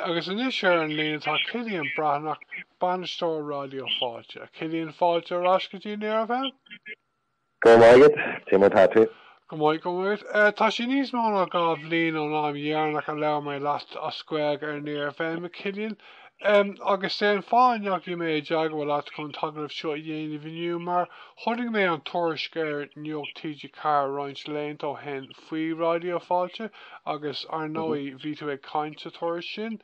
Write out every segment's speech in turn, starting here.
Agus anois ar an líne tá Cillian Breatnach, bainisteoir Raidió Fáilte. Cillian, fáilte ar ais go dtí Near FM. Go raibh maith agat, cé mar tá tú? Go maith, go maith. Tá sé níos mó ná dhá bhliain ón am dheireanach a labhair mé leat as Gaeilge ar Near FM, Cillian. Agus sé an fáth a ndeachaigh mé i dteagmháil leat chun an t-agallamh seo a dhéanamh inniu, mar chonaic mé an tuairisc ar Nuacht TG4 roinnt laethanta ó shin faoi Raidió Fáilte, agus ar ndóigh bhí tú ag caint sa tuairisc sin.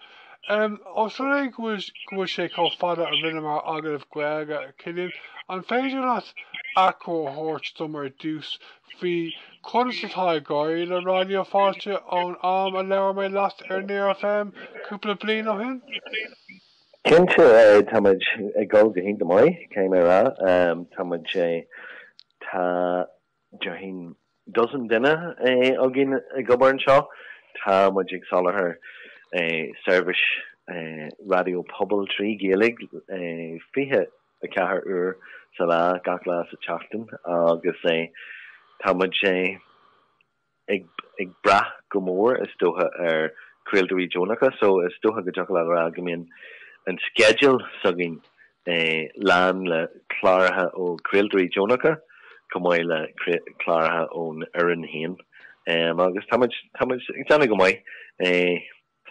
Ós rud é go bhfuil sé chomh fada ó rinne muid agallamh Gaeilge, Cillian, an féidir leat achoimre a thabhairt dom ar dtús faoi conas atá ag éirí le Raidió Fáilte ón am a labhair mé leat ar Near FM cúpla bliain ó shin? Cinnte, tá muid ag dul go hiontach maith, caithfidh mé a rá. Tá muid, tá Déarfainn dosaen duine againn ag obair anseo, tá muid ag soláthar seirbhís raidió pobail trí Ghaeilge 24 uair sa lá, gach lá sa tseachtain agus tá muid, ag brath go mór is dócha ar chraoltóirí deonacha so is dócha go dtiocfadh leat a rá go mbíonn an sceideal s'againn lán le cláracha ó chraoltóirí deonacha chomh maith le cláracha ón fhoireann féin agus táimid ag déanamh go maith.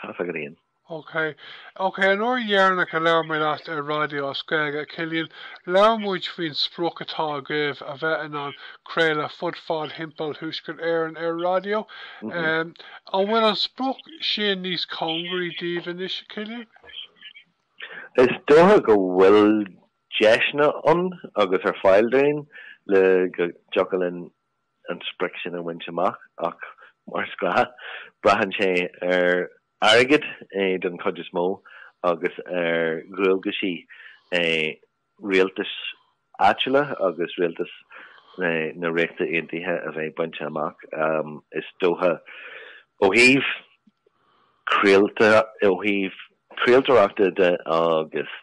Tá's agat. Ok. Ok, an uair dheireanach a labhair mé leat ar raidió as Gaeilge, Cillian, labhair muid faoin sprioc atá agaibh a bheith in ann craoladh fud fad thimpeall Thuaisceart Éireann ar raidió. An bhfuil an sprioc sin níos cóngaraí daoibh anois, a Chillian? Is dócha go bhfuil deiseanna ann agus ar fáil dúinn le go dtiocfadh linn an sprioc sin a bhaint amach ach, mar is gnáth, braitheann sé ar airgead den chuid is mó agus ar dhualgaisí rialtais áitiúla agus rialtas na Ríochta Aontaithe a bheith bainte amach, is dócha. Ó thaobh, ó thaobh craoltóireachta de agus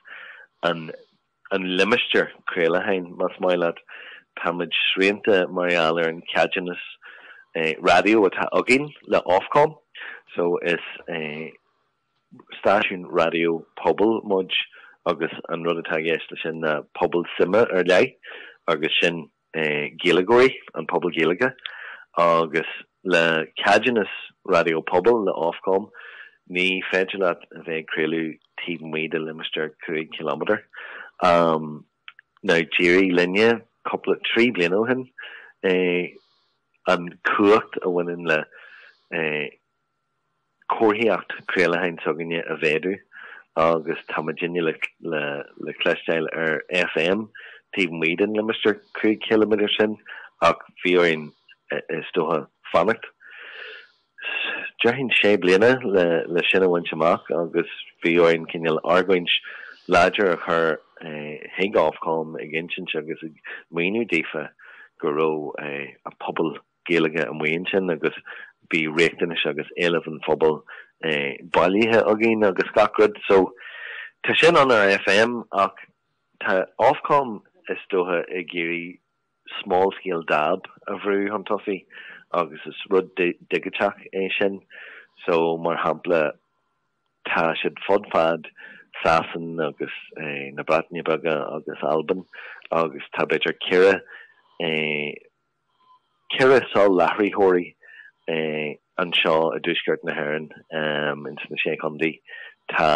an. an limistéar craolacháin, más maith leat. Táimid srianta mar gheall ar an cheadúnas raidió atá againn le Ofcom so is stáisiún raidió pobail muid agus an rud atá i gceist leis sin ná pobal suime ar leith agus sin Gaeilgeoirí, an pobal Gaeilge, agus le ceadúnas Raidió Pobail le Ofcom, ní féidir leat a bheith ag craoladh taobh amuigh de limistéar cúig chiliméadar. Now, d'éirigh linne, cúpla, trí bliana ó shin, an chumhacht a bhaineann le comharthaíocht craolacháin s'againne a mhéadú agus tá muidinne le cloisteáil ar FM taobh amuigh den limistéar cúig chiliméadar sin ach bhí orainn, is dócha, fanacht, déarfainn, sé bliana le sin a bhaint amach agus bhí orainn cineál argóint láidir a chur chuig Ofcom ag insint agus maoiniú daofa go raibh an pobal, Gaeilge amuigh ansin agus bhí riachtanais agus éilimh an phobail bailithe againn agus gach rud so tá sin ann ar FM ach tá Ofcom is dócha ag iarraidh small scale dab a bhrú chun tosaigh agus is rud digiteach é sin so mar shampla tá siad fud fad Shasana agus na Breataine Bige agus Albain agus tá b'fhéidir ceithre ceithre soláthraitheoirí anseo i dTuaisceart na hÉireann, ins na Sé Chondae. Tá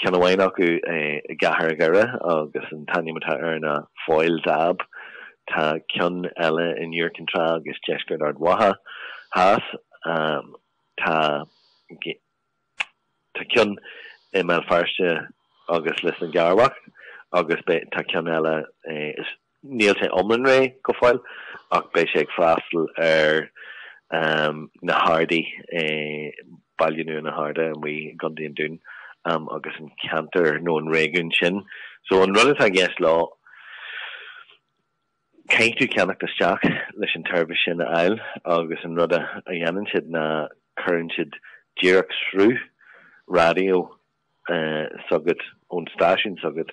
ceann amháin acu i gCathair Dhoire agus an t-ainm atá air ná Foyle DAB. Tá ceann eile in Iúr Cinn Trá agus Deisceart Ard Mhacha Theas. Tá. Tá ceann i mBéal Feirste agus Lios na gCearrbhach agus beidh, tá ceann eile, níl sé iomlán réidh go fóill ach beidh sé ag freastal ar na hArdaí, Baile Nua na hArda amuigh i gContae an Dúin agus an ceantar nó an réigiún sin. So an rud atá i gceist leo, Caithfidh tú ceannacht isteach leis an tseirbhis sin a fháil agus an rud a dhéanann siad ná cuireann siad díreach sruth raidió s'agat ón stáisiún s'agat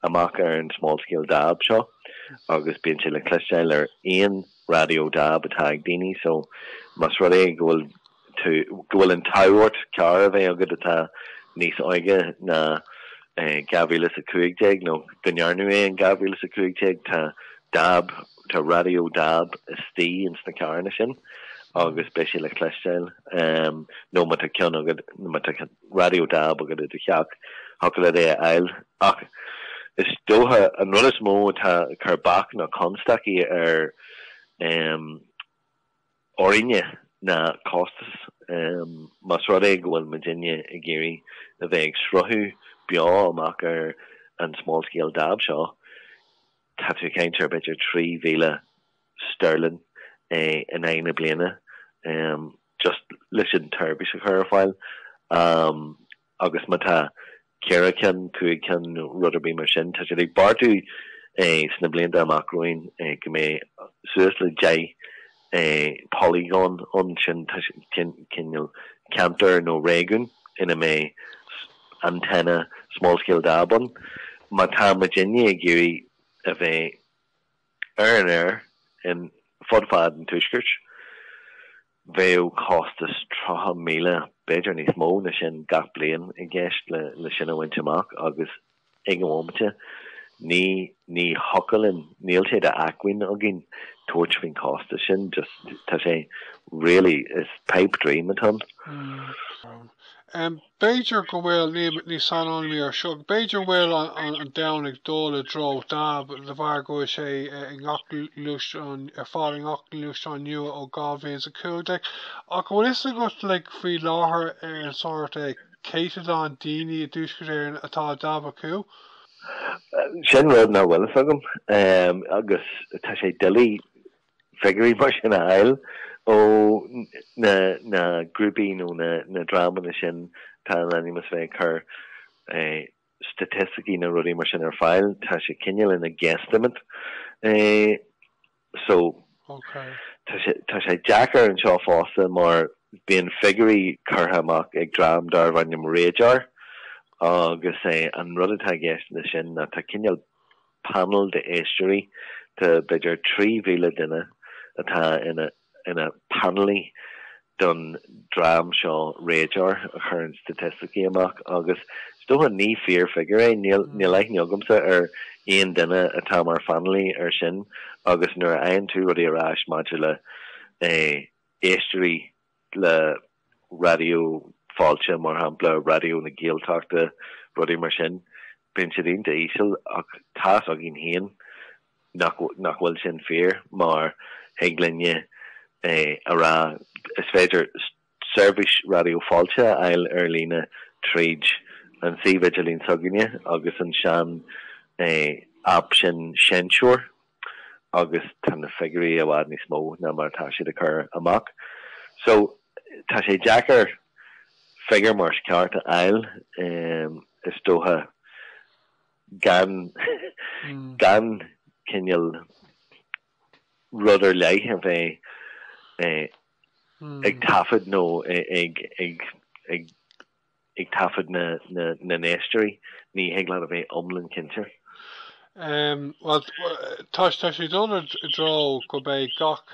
amach ar an small scale dab seo agus bíonn sé le cloisteáil ar aon raidió dab atá ag daoine so más rud é go bhfuil tú go bhfuil an t-ádh ort carr a bheith agat atá níos óige ná 2015, nó go ndearnadh é in 2015. Tá dab, tá raidió dab istigh ins na carranna sin agus beidh sé le cloisteáil. Nó má tá ceann agat, má tá raidió dab agat i do theach, thiocfadh leat é a fháil. Ach is dócha an rud is mó atá ag cur bac ná constaicí ar. orainne ná costas. Más rud é go bhfuil muidinne ag iarraidh a bheith ag sruthú beo amach ar an small scale dab seo, tá tú ag caint ar b'fhéidir trí mhíle sterling in aghaidh na bliana just leis an tseirbhís a chur ar fáil. agus má tá ceithre cinn, cúig cinn nó rud ar bith mar sin, tá siad ag beartú sna blianta amach romhainn go mbeidh eh suas le deich eh polygon ann, sin cineál ceantar nó réigiún ina mbeidh antenna small-scale DAB ann. Má tá muid uile ag iarraidh a bheith ar an aer ar fud fad an tuaiscirt, Bheadh costas 30,000, b'fhéidir níos mó ná sin, gach bliain i gceist le sin a bhaint amach agus ag an bhomaite, ní ní thiocfadh linn, níl sé d'acmhainn againn tabhairt faoin chostas sin, just, tá sé really, is pipe dream atá ann. B'fhéidir go bhfuil, ní saineolaí mé ar seo, b'fhéidir bhfuil an domhan ag dul i dtreo DAB de bharr go bhfuil sé i ngach gluaisteán, ar fáil i ngach gluaisteán nua ó 2015. Ach an bhfuil a fhios agat like faoi láthair ar an sórt eh céatadán daoine i dTuaisceart Éireann atá DAB acu? Sin rud nach bhfuil a fhios agam. Agus tá sé doiligh. figiúirí mar sin a fháil ó na grúpaí nó na dreamanna sin, atá in ainm is a bheith ag cur staitisticí nó rudaí mar sin ar fáil, tá sé cineál ina guesstimate. So, tá sé deacair anseo fosta mar bíonn figiúirí curtha amach ag dream darb ainm RAJAR agus an rud atá i gceist leis sin ná tá cineál Painéal d'éisteoirí de b'fhéidir 3,000 duine atá ina bpainéalaí don dream seo RAJAR a chuireann staitisticí amach agus is dócha, ní fíor figiúr é, níl aithne agamsa ar aon duine atá mar phainéalaí ar sin agus nuair a fhaigheann tú rudaí ar ais maidir le éisteoirí, le Raidió Fáilte, mar shampla, Raidió na Gaeltachta, rudaí mar sin, bíonn siad iontach íseal ach tá a fhios againn féin nach bhfuil sin fíor mar thig linne a rá is féidir seirbhís Raidió Fáilte a fháil ar líne tríd an suíomh idirlín s'againne agus an sean aip sin Seinnteoir. agus tá na figiúirí i bhfad níos mó ná mar atá siad ag cur amach. So, tá sé deacair figiúir mar is ceart a fháil, is dócha, gan gan cineál rud ar leith a bheith ag taifead nó ag ag ag Ag taifeadadh na n-éisteoirí, ní thig leat a bheith iomlán cinnte. Bhuel, tá sé ag dul i dtreo go mbeidh gach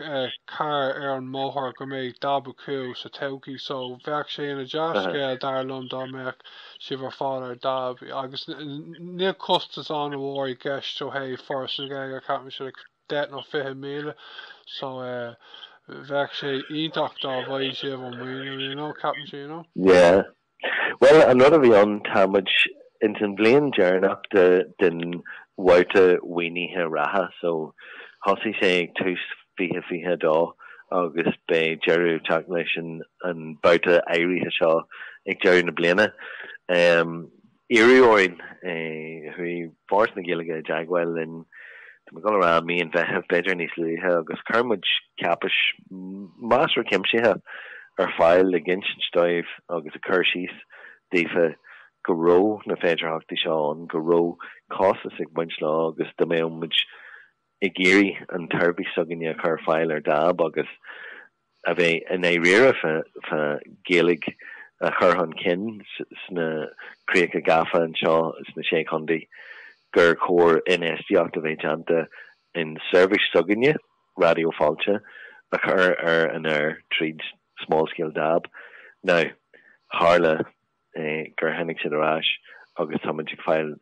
carr ar an mbóthar, go mbeidh dab acu sa todhchaí, so bheadh sé ina dea-scéal, dar liom, dá mbeadh sibh ar fad ar dab. Agus níl costas an-mhór i gceist ó thaobh Foras na Gaeilge, ceapaimse. deich nó fiche míle so bheadh sé iontach dá bhfaigheadh sibh an maoiniú ceapaimse. Yeah. Bhuel an rud a bhí ann tá muid ins an bhliain deireanach de den bhabhta mhaoinithe reatha so thosaigh sé ag tús fiche fiche a dó agus beidh deireadh ag teacht leis an an babhta áirithe seo ag deireadh na bliana. Iarradh orainn, chuaigh Foras na Gaeilge i dteagmháil linn, tá mé ag gabháil a rá mí an Mheithimh, b'fhéidir níos luaithe, agus chuir muid cáipéis mheasartha cuimsitheach ar fáil ag insint dóibh agus ag cur síos daofa go raibh na féidearthachtaí seo ann, go raibh costas ag baint leo agus dá mbeadh muid ag iarraidh an tseirbhís s'againne a chur ar fáil ar dab agus. a bheith i ndáiríre fá Ghaeilge a chur chun cinn sna críocha gafa anseo sna Sé Chontae, gur chóir infheistíocht a bheith déanta in seirbhís s'againne, Raidió Fáilte, a chur ar an aer tríd Small Scale Dab. Now, tharla. gur tháinig siad ar ais agus táimid ag fáil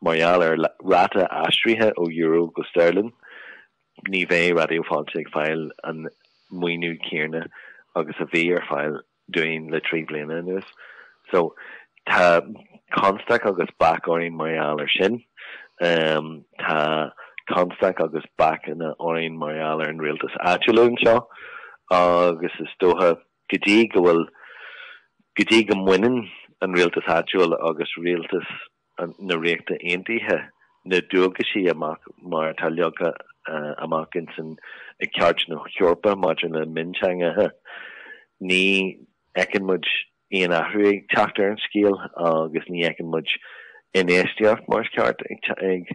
mar gheall ar ráta aistrithe ó euro go steirlinn, ní bheidh Raidió Fáilte ag fáil an maoiniú céarna agus a bhí ar fáil dúinn le trí bliana anuas. So tá constaic agus bac orainn mar gheall ar sin. Tá constaic agus bacanna orainn mar gheall ar an rialtas áitiúil anseo agus is dócha, Go dtí go bhfuil, go dtí go mbaineann an rialtas áitiúil agus rialtas na Ríochta Aontaithe na dualgaisí amach mar atá leagtha amach ins an, i gCairt na hEorpa maidir le Mionteangacha, ní fheiceann muid aon athrú ag teacht ar an scéal agus ní fheiceann muid infheistíocht mar is ceart ag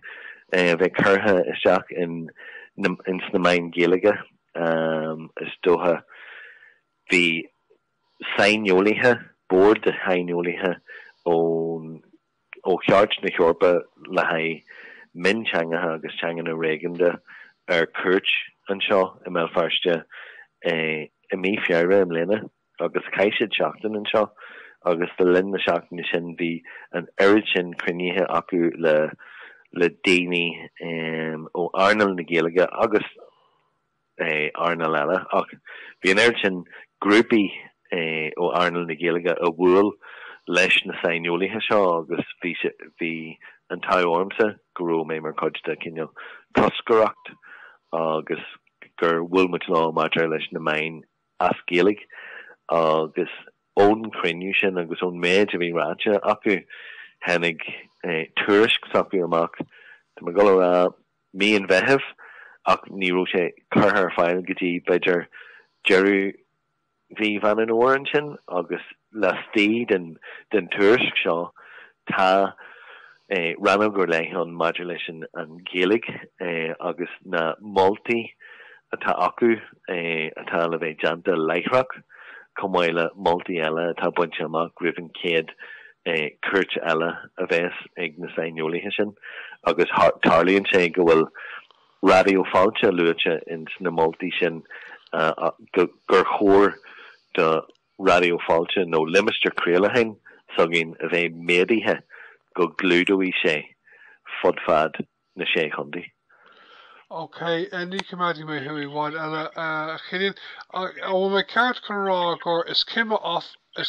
bheith curtha isteach ins na meáin Ghaeilge. is dócha. Bhí saineolaithe, bord de shaineolaithe ón, ó Chairt na hEorpa le haghaidh mionteangacha agus teanganna réigiúnda ar cuairt anseo i mBéal Feirste i mí Feabhra i mbliana. agus chaith siad seachtain anseo agus le linn na seachtaine sin bhí an oiread sin cruinnithe acu le le daoine ó earnáil na Gaeilge agus earnáil eile ach bhí an oiread sin grúpaí ó earnáil na Gaeilge a bhuail leis na saineolaithe seo agus bhí bhí an t-adh ormsa go raibh mé mar chuid de cineál toscaireacht agus gur bhuail muid leo maidir leis na meáin as Gaeilge agus ón chruinniú sin agus ón méid a bhí ráite acu tháinig tuairisc s'acu amach, tá mé ag dul a rá mí an Mheithimh ach ní raibh sé curtha ar fáil go dtí b'fhéidir deireadh mhí Mheán Fómhair ansin agus Laistigh den tuairisc seo tá rannóg ar leith ann maidir leis an Ghaeilge agus na moltaí atá acu atá le bheith déanta láithreach, chomh maith le moltaí eile atá bainte amach roimh an chéad chuairt eile a bheas ag na saineolaithe sin. Agus tarlaíonn sé go bhfuil Raidió Fáilte luaite ins na moltaí sin, gur chóir do. Raidió Fáilte nó limistéar craolacháin s'againn a bheith méadaithe go gclúdóidh sé fud fad na Sé Chontae. OK, ní choimeádfaidh mé thú i bhfad eile, a Chillian. An bhfuil mé ceart chun a rá gur, is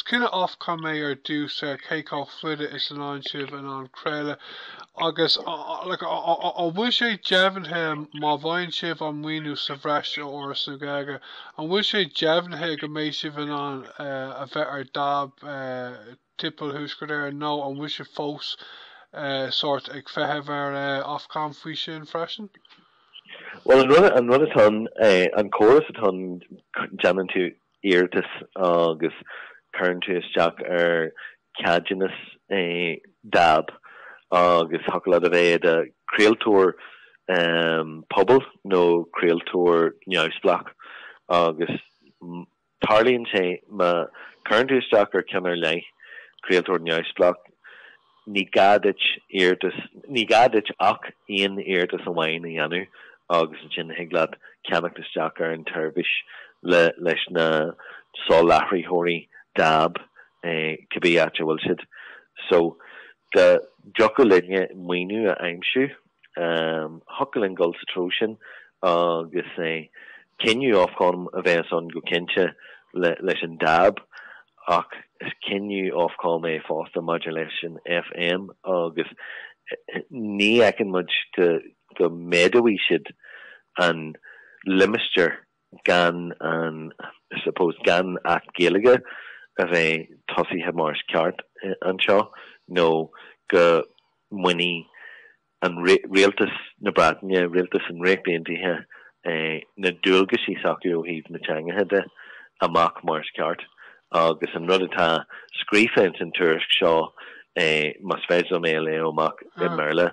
cinneadh Ofcom é ar dtús ar cé chomh fada is atá sibh in ann craoladh agus, like, an bhfuil sé deimhnithe má fhaigheann sibh an maoiniú sa bhreis ó Fhoras na Gaeilge, An bhfuil sé deimhnithe go mbeidh sibh in ann a bheith ar dab timpeall Thuaisceart Éireann nó an bhfuil sé fós sórt ag feitheamh ar Ofcom faoi sin freisin? Bhuel, an rud, an rud atá ann, an córas atá ann, déanann tú iarratas agus cuireann tú isteach ar cheadúnas dab agus thiocfadh leat a bheith i do chraoltóir pobail nó craoltóir neamhspleách agus tarlaíonn sé má chuireann tú isteach ar ceann ar leith, craoltóir neamhspleách, ní gá duit iarratas, ní gá duit ach aon iarratas amháin a dhéanamh agus ansin thig leat ceannach isteach ar an tseirbhís le, leis na soláthraitheoirí dab cibé áit a bhfuil siad. So dá dtiocfadh linne maoiniú a aimsiú Thiocfadh linn dul sa treo sin agus cinneadh Ofcom a bheas ann go cinnte leis an dab ach is cinneadh Ofcom é fosta maidir leis an FM agus ní fheiceann muid go méadóidh siad an limistéar gan an, I suppose, gan Acht Gaeilge a bheith tosaithe mar is ceart anseo nó go mbainfidh rialtas na Breataine, rialtas na Ríochta Aontaithe, na dualgaisí s'acu ó thaobh na teangacha de amach mar is ceart. Agus an rud atá scríofa ins an tuairisc seo, más féidir liom é a léamh amach i mBéarla,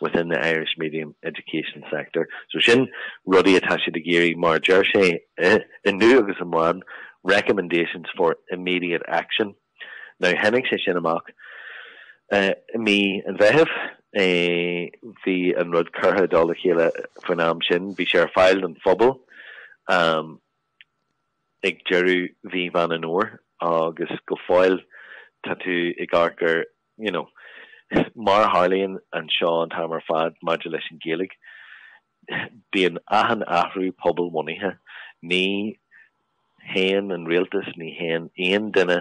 within the Irish medium education sector'. So sin rudaí atá siad ag iarraidh, mar a deir sé, inniu agus amháin, 'recommendations for immediate action'. Now tháinig sé sin amach i mí an Mheithimh, bhí an rud curtha i dtoll a chéile faoin am sin, bhí sé ar fáil don phobal ag deireadh mhí Mheán an Fhómhair agus go fóill tá tú ag amharc ar you know, mar a tharlaíonn anseo an t-am ar fad maidir leis an Ghaeilge, bíonn achan athrú pobalbhunaithe. Ní théann an rialtas, ní théann aon duine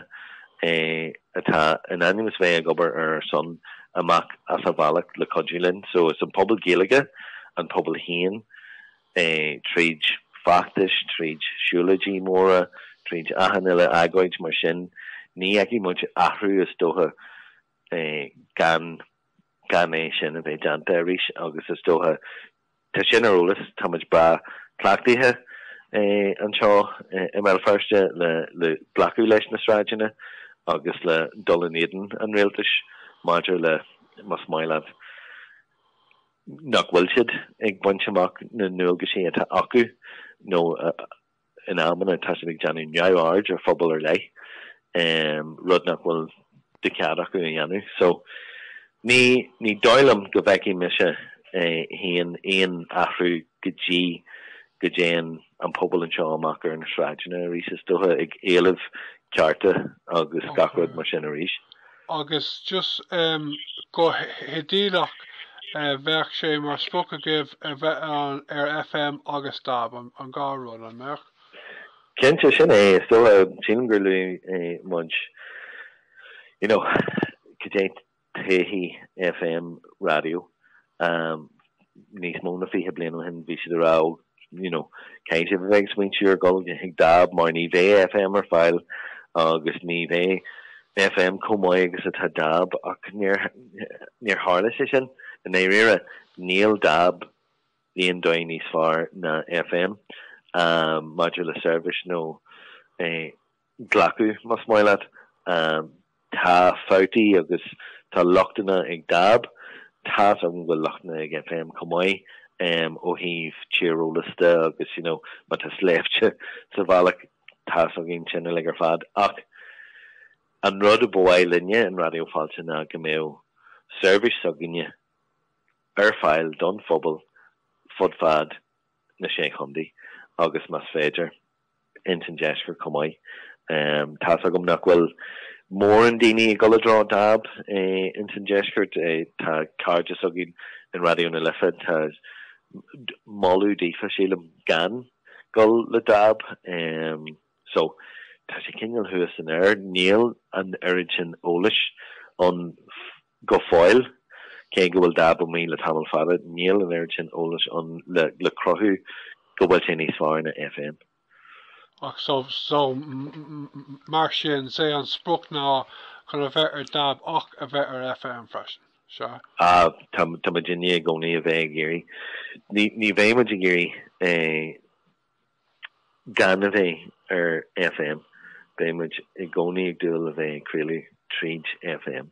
eh atá in ainm is a bheith ag obair ar ár son amach as a bhealach le cuidiú linn. So is an pobal Gaeilge, an pobal féin, é tríd feachtais, tríd siúlóidí móra, tríd achan uile agóid, mar sin ní fheicfidh muid athrú is dócha gan gan é sin a bheith déanta arís agus is dócha, tá sin ar eolas, tá muid breá cleachtaithe anseo i mBéal Feirste le le glacadh leis na sráideanna agus le dul in éadan an rialtais maidir le más maith leat. nach bhfuil siad ag baint amach na ndualgaisí atá acu nó in amanna tá siad ag déanamh neamhaird ar phobal ar leith, rud nach bhfuil de chead acu a dhéanamh. So ní ní dóigh liom go bhfeicfidh mise féin aon athrú go dtí go dtéann an pobal anseo amach ar na sráideanna arís, is dócha, ag éileamh cearta agus gach rud mar sin arís. Agus just go hidéalach, bheadh sé mar sprioc agaibh a bheith ar FM agus DAB, an dhá rud, an mbeadh? Cinnte, sin é, is dócha. Sílim gur luaigh muid, you know, cad é todhchaí FM raidió níos mó ná fiche bliain ó shin bhí siad ag rá you know caithfidh sibh a bheith ag smaointiú ar dhul chuig DAB mar ní bheidh FM ar fáil agus ní bheidh FM chomh maith agus atá DAB ach níor tharla sé sin in Éirinn níl DAB ar aon dóigh níos fearr na FM um, maidir le seirbhís nó eh, glacadh, más maith leat. Tá fabhtaí agus tá lochtanna ag DAB. Tá's agam go bhfuil lochtanna ag FM chomh maith, ó thaobh tíreolais de agus you know má tá sléibhte sa bhealach, tá's againn sin uilig ar fad. Ach an rud a ba mhaith linne in Raidió Fáilte ná go mbeadh seirbhís s'againne ar fáil don phobal fud fad na Sé Chontae agus más féidir, ins an deisceart chomh maith. Tá's agam nach bhfuil mórán daoine ag dul i dtreo DAB ins an deisceart. Tá cairde s'againn in Raidió na Life atá ag moladh daofa, sílim, gan dul le DAB. So, tá sé cineál thuas san aer. Níl an oiread sin eolais ann Go fóill, cé go bhfuil DAB amuigh le tamall fada, níl an oiread sin eolais ann le cruthú go bhfuil sé níos fearr ná FM. Ach so, mar sin, 's é an sprioc ná chun a bheith ar DAB ach a bheith ar FM freisin, sea? Á, tá muid i ndiaidh i gcónaí a bheith ag iarraidh. Ní bheidh muid ag iarraidh é. Gan a bheith ar FM, beidh muid i gcónaí ag dúil a bheith ag craoladh tríd FM.